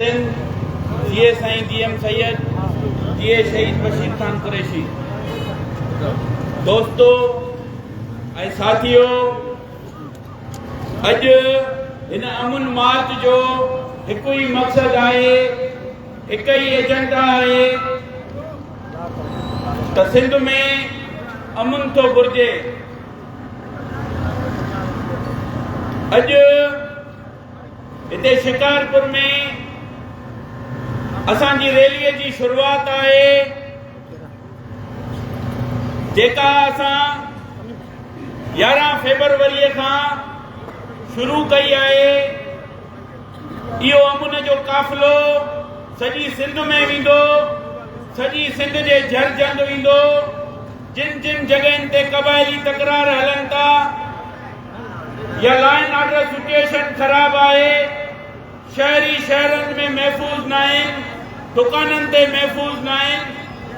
سنڌ، جيئي سائين جي ايم سيد، جيئي شهيد بشير خان قريشي. دوستو ۽ ساٿيو اڄ هن امن مارچ جو هڪ ئي مقصد آهي هڪ ئي ايجنڊا آهي ته سنڌ ۾ امن ٿو گهرجي اڄ هتي شڪارپور ۾ اسان جي ريلي جي شروعات آهي جيڪا اسان يارهن فيبروري کان شروع ڪئي آهي اهو امن جو قافلو سڄي سنڌ ۾ ويندو سڄي سنڌ جي جھر جھند ويندو جن جن جڳهين تي قبائلي تڪرار هلن ٿا يا لائن آرڊر سچوئيشن خراب آهي، شهري شهرن ۾ محفوظ ناهن، دڪانن تي محفوظ ناهن،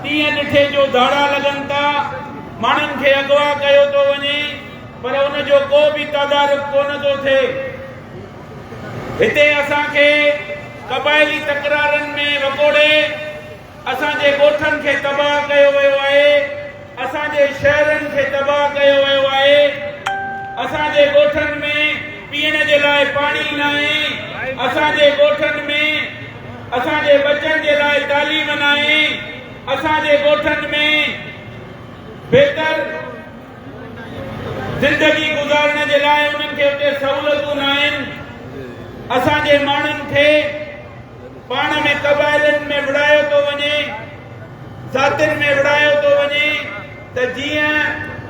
ڏينهن ڏٺي جو ڌاڙا لڳن ٿا، ماڻهن کي اغوا ڪيو ٿو وڃي پر ان جو ڪو به تدارڪ ڪونه ٿو ٿئي. هتي اسان کي قبائلي تڪرارن ۾ وڪوڙي، اسان جي ڳوٺن کي تباهه ڪيو ويو آهي، اسان جي شهرن کي تباهه ڪيو ويو آهي، اسان جي ڳوٺن ۾ پيئڻ جي لاء پاڻي ناهي، اسان جي ڳوٺن ۾ اسان جي ٻچن جي لاء تعليم ناهي، اسان جي ڳوٺن ۾ بهتر زندگي گذارڻ جي لاء انهن کي اتي سهولتون ناهن، اسان جي ماڻهن کي. پاڻ ۾ قبائلن ۾ وڙهايو ٿو وڃي، ذاتين ۾ وڙهايو ٿو وڃي ته جيئن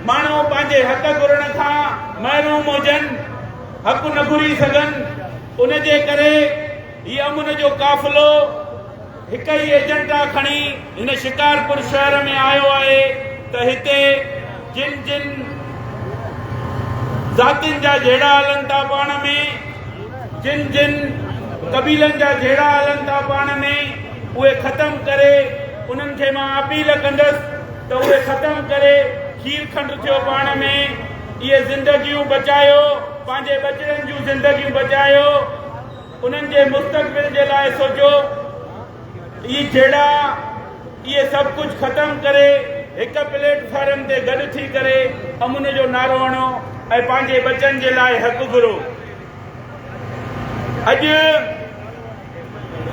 ماڻهو پنهنجي حق گهرڻ کان محروم هجن، حق نه گهري سگهن، ان جي ڪري هي امن جو قافلو هڪ ئي ايجنڊا کڻي هن شڪارپور شهر ۾ آيو آهي ته هتي جن جن ذاتين جا جهيڙا هلن ٿا پاڻ ۾ جن جن قبيلن جا جهيڙا هلن ٿا پاڻ ۾ اهي ختم ڪري انهن کي مان اپيل ڪندس ته اهي ختم ڪري کير کنڊ ٿيو پاڻ ۾ اهي زندگيون بچايو پنهنجي ٻچڙن جون زندگيون بچايو انهن جي مستقبل جي لاء سوچو. اهي جهيڙا، اهي سڀ ڪجهه ختم ڪري هڪ پليٽ فارم تي گڏ ٿي ڪري امن جو نعرو هڻو ۽ پنهنجي ٻچن جي لاء حق گهرو. اڄ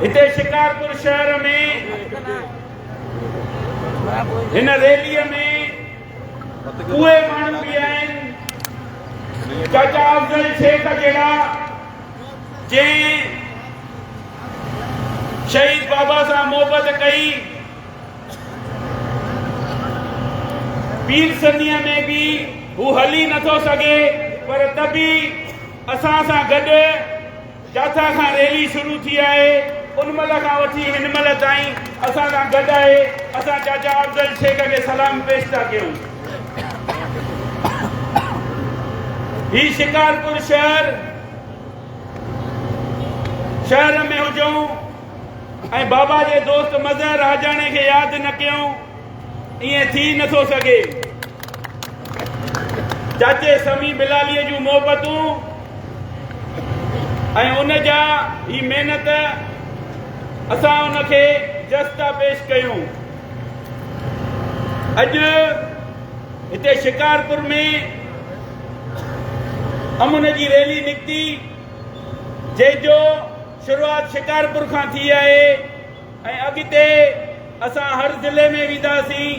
هتي شڪارپور شهر ۾ هن ريلي ۾ اهي ماڻهو به آهن چاچا افضل شيخ جهڙا جنهن شهيد بابا سان محبت ڪئي پير سنيء ۾ به هو هلي نٿو سگهي پر ته به اسان سان گڏ جاٿا کان ريلي شروع ٿي آهي ان مهل کان وٺي هن مهل تائين اسان سان گڏ آهي اسان چاچا افضل شيخ کي سلام پيش ٿا ڪيون هي شڪارپور شهر شهر ۾ هجون ۽ بابا جي دوست مظهر راجاڻي کي ياد نه ڪيون ائين ٿي نٿو سگهي چاچي سمي بلالي جون محبتون ۽ ان جا هي محنت اسان ان کي جستا پيش ڪيون اڄ هتي شڪارپور ۾ امن جي ريلي نڪتي جنهن جو شروعات شڪارپور کان ٿي آهي ۽ اڳتي اسان هر ضلعي ۾ وينداسين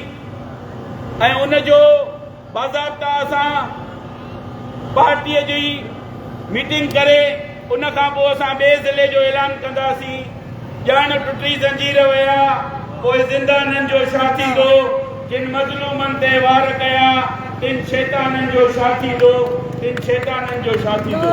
۽ ان جو باضابطا اسان پارٽيء جي ميٽنگ ڪري ان کان پوء اسان ٻئي ضلعي جو اعلان ڪنداسين. ڄڻ ٽٽي زنجير ويا پوء زندانن جو ڇا ٿيندو؟ جن مظلومن تي وار ڪيا تن شيطانن جو ڇا ٿيندو؟ تن شيطانن جو ڇا ٿيندو؟